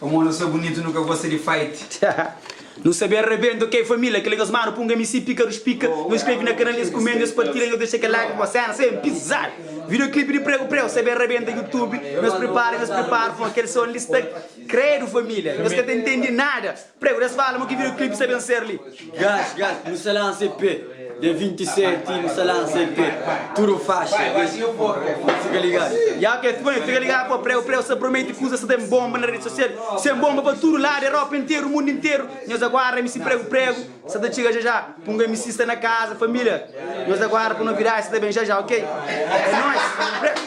Pamo nu sa bunitu nu ka gosta di fight. Nu sa ben rebenta ok família kel kes manu punga mc pika ruspika nu skreve na kanal es kumenta es partilha nhos dexa kel like bó sena sa ben pizadu video clip di preu preu sa ben rebenta youtube nhos pripara nhos pripara fó kel son li sta kredu família nhos ka ta intendi nada. Pregu des fala mo ki video clip sa ben ser li. Gás gás nu sa lansa EP dia 27 nu sa lansa EP tudo faixa des fica ligado. Ya ok fika ben fika ligado pa pregu pregu sa prometi kuza sa tem bomba na rede social sem bomba pa tudo lado europa interu mundo interu nhos aguarda mc pregu pregu sa ta txiga já já punga mc sta na casa familia nhos aguarda pa novidade sa ta ben já já ok é nós pregu.